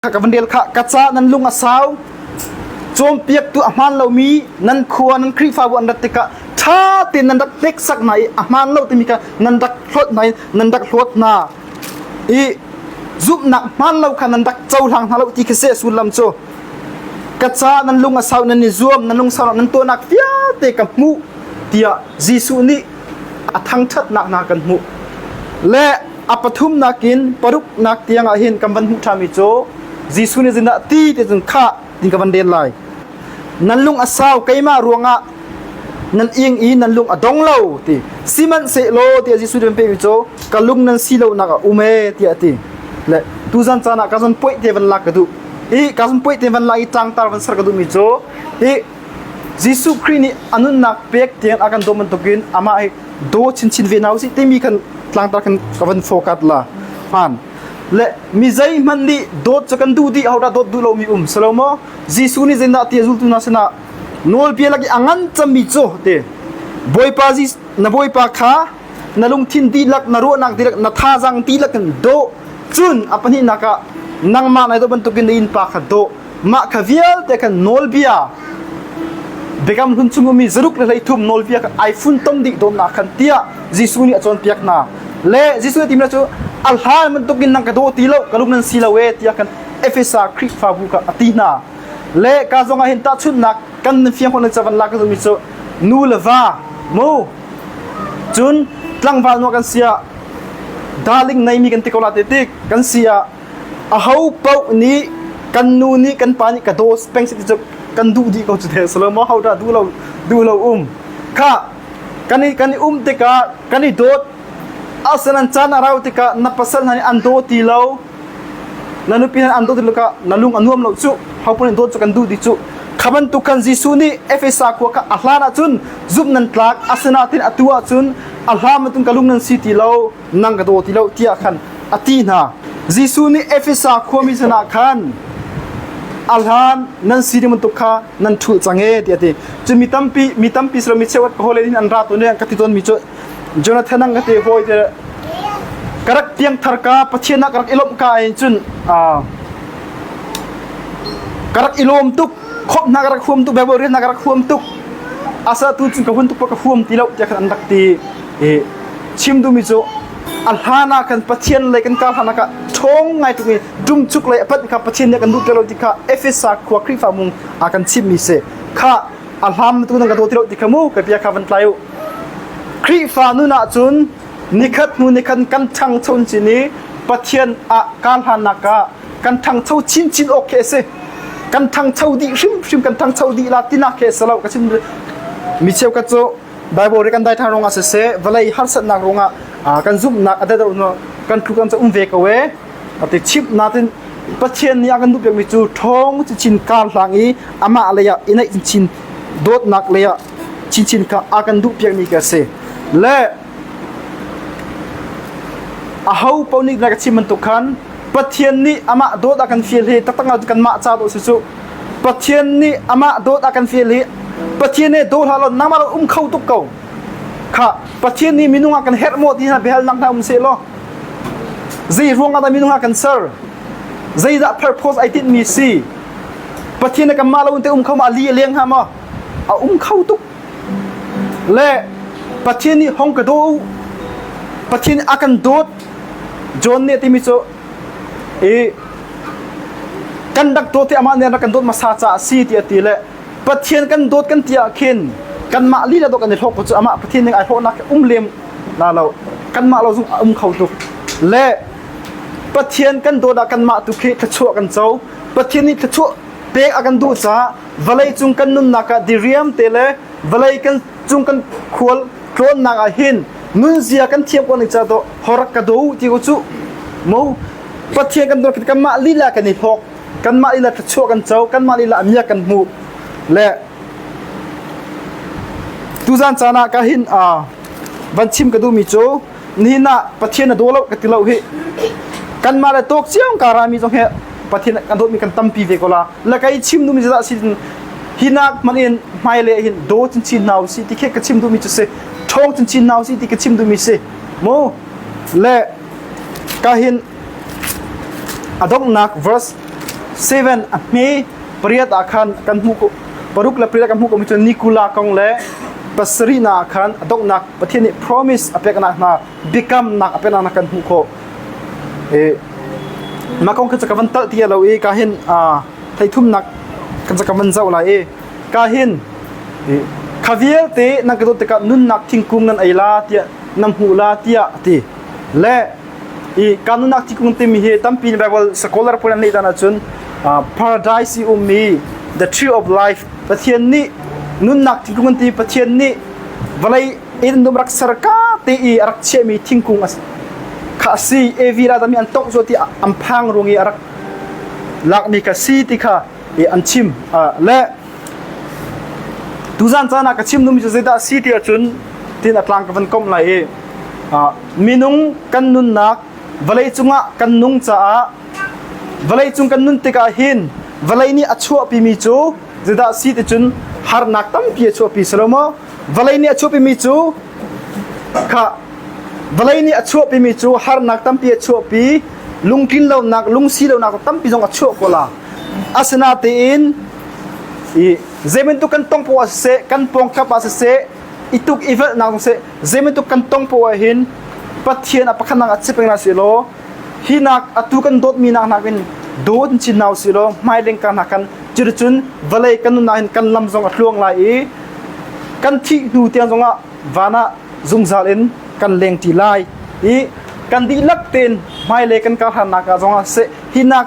kha ka van del kha ka ca nan lung a sau cawmpiak tu a hmaan lomi nan khua nan khrihfabu an rat tikah ṭha tein nan rak hneksak hna i a hmaan lo timi kha nan rak hlawt hna i nan rak hlawt hna i zumhnak hmaan lo kha nan rak cohlang hna lo ti khi se sullam cu ka ca nan lung a sau nan i zuam nan lungsau nan tuahnak vialte ka hmuh tiah Jesuh nih a thangṭhatnak hna kan hmuh le A pathumnak in paruknak tiangah hin kan van hmuh ṭhami cu Jesuh nih zinah ti te cun khah ti ka van len lai. Nan lung a sau keimah ruangah nan ing i nan lung a dong lo ti sihmanhsehlaw ti a Jesuh nih an pehmi cu ka lung nan si lonak ah um e tiah a ti. Le tuzan caan ah ka zon poih te van lak ka duh i ka zon poih te van lak i ṭangtar van ser ka duhmi cu hi Jesuh Khrih nih a nunnak pek tiang a kan daw bantukin amah hi daw chinchin ve nau si timi kan tlangtar kan ka van focus la hman le mi zei hmanh nih dawt cu kan duh dih hauta dawt duh lomi um salomo jesuh nih zindah ti zultu na sina nawlbia lagi angan chami cu te boipa ji na boipa kha na lungthin dihlak na ruahnak dihlak na thazang dihlak kan do cun apani naka nangma nai do bantukin na in pa kha do mah kha vialte kan nawlbia Biakam hlun chungumi zaruk le hleithum nawlbia kan iPhone ton dih dawm na khan tiah Jesuh nih a cawnpiak hna le Jesuh nih timna cu a hlan bantuk in nang ka daw ti lo ka lum nan si lo e tiah kan Efesa Khrihfabu kha a ti hna le ka zong ah hin tahchunhnak kan nan fiang khawh chavan lak kan zumi cu nu le va mu cun tlangval nu kan sia darling nei mi kan ti ko la te tik kan sia Ahopaoh nih kan nu nih kan pa nih ka daw peng sih cu kan duh dih ko cu te a si lo maw hodah duh lo duh lo um khah kan i kan i um tikah kan i dawt asinain caan a rau tikah na pasal hna nih an daw ti lo na nupi hna an daw ti lo tikah na lung a nuam lo cuh hopaoh nih dawt cu kan duh dih cuh kha bantuk khan Jesuh nih Efesa khua kha a hlan ahcun zumh nan tlak asinain atu ahcun a hlam in ka lung nan si ti lo nang ka daw ti lo tiah khan a ti hna Jesuh nih Efesa khuami sinah khan a hlan nan si ding bantuk kha nan ṭhulh cang e tiah a ti cu mi tampi mi tampi silo mi cheuat ka hawle in an ra tawn ka ti tawn mi cu Jonathan ang ka te hawi te ka rak piangthar ka Pathian ah ka rak i lawmh ka in cun ka rak i lawm tuk khop hna ka rak huam tuk bebal rian hna ka rak huam tuk asa tu cun ka hun tuk pa ka huam ti lo tiah khan an rak ti hi chim duhmi cu a hlan ah kan pathian le kan kar hlanah ah ṭhawng ngai tuk i ṭumchuk le a pat kha pathian nih a kan lutter lo ti kha Efesa khua Khrihfa mung a kan chimhmi si kha a hlam tu nan ka daw ti lo ti kha mu ka bia kha van tlai u Khrihfa nun ah cun nikhat hnu nikhat kan ṭhangcho in cin i pathian ah kar hlannak ah kan ṭhangcho chinchin awk khi a si kan ṭhangcho dih hrimhrim kan ṭhangcho dih la tinak khi a si lo ka chim mi cheu ka cu Baibal ri kan dai thang ruangah siseh vawlei harsatnak ruangah kan zumhnak a dado kan tlu kan um ve ko e ati chimh natin Pathian nih a kan duh piakmi cu ṭhawng cu chin kar hlang i amah lei ah i naih chin dawtnak lei ah chinchin kha a kan duh piakmi ka si le aho paoh nih na ka chim bantuk khan Pathian nih amah dawt a kan fial hi taktak ah kanmah ca dawh si cu Pathian nih amah dawt a kan fial hi Pathian he daw hlah law nangmah lo um kho tuk ko kha Pathian nih minung ah kan herh maw ti hna biahal nak hna um se law zei ruang ah dah minung ah kan ser zeidah purpose ai tinh mi si Pathian nih kanmah lo in te um kho ma li a leng ha ma a um kho tuk le Pathian nih hong ka daw Pathian a kan dawt John nih timi cu i kan rak dawt i amah nih rak kan dawt hmasa caah a si tiah ti le Pathian kan dawt kan ti ah khin kanmah lila dawt kan i hlawk cu amah Pathian ning ai hlawhnak um lem na lo kanmah lo zung a um kho tuk le Pathian kan dawt ah kanmah tu khi thluachuah kan co Pathian nih thluachuah pek a kan duh caah vawlei cung kan nunnak ah diriam te le vawlei kan cung kan khual tlawnnak ah hin nunzia kan thiam ko ning ca to horak ka do ti ko chu mo pathian kan dor kan mah lila kan i thok kan mah lila thachuah kan cho kan mah lila amia kan hmu le tuzan cana ka hin a van chim ka du mi chu nihin ah Pathian a daw lo ka ti lo hi kanmah le tawk cio karami zong he Pathian kan dawtmi kan tampi ve ko la la kei chim duhmi zat sin hi nak man in hmai le hin do chin chin hna si ti khe ka chim duhmi chu si thong chin chin hna si ti ka chim duhmi si mu le ka hin adongnak verse 7 a hme pariat a khan kan mu ko paruk la pariat kan mu ko mi chu nikula kong le pasri na khan adongnak Pathian nih promise a peknak hna biakamnak a peknak hna kan hmuh khawh i mah kong kha ka van talh ti lo i ka hin theithumnak kan ka van zoh lai i ka hin kha vialte nan ka dawt tikah nunnak thingkung nan ei la tiah nan hmuh la tiah a ti le i ka nunnak thingkung timi hi tampi in Bible scholar pun an leh dan ahcun paradise i ummi the tree of life Pathian nih nunnak thingkung ti Pathian nih Vawlei in num rak ser ka ti i a rak chiahmi thingkung kha a si. Evi ralkap nih an tongh zual ti an phang rung i a rak lakmi ka si ti kha an chim. Le tuzan caan ah ka chim numi cu zeidah a si ti ahcun tin a tlang ka van komh lai i minung kan nunnak vawlei cungah kan nung caah vawlei cung kan nun tikah hin vawlei nih a chuahpimi cu Judah si ti cun harnak tampi a chuahpi si lo maw? Vawlei nih a chuahpimi cu kha vawlei nih a chuahpimi cu harnak tampi a chuahpi lungtlin lonak lungsi lonak tampi zong a chuah ko la asinatein i zeibantuk kan tong poah siseh kan pawng khlap ah siseh i tuk i velhnak zong seh zeibantuk kan tong poah hin Pathian a pakhat nang a si peng lai sih law Hi nak atu kan dawtmi nak nakin dawt in cin hna usih law hmaileng ka hnak kan cuticun vawlei kan nunnak hin kan lam zong a tluang lai i kan thih hnu tiang zongah van ah zungzal in kan leng ṭi lai i kan dihlak tein hmailei kan karhlannak ah zongah seh hi nak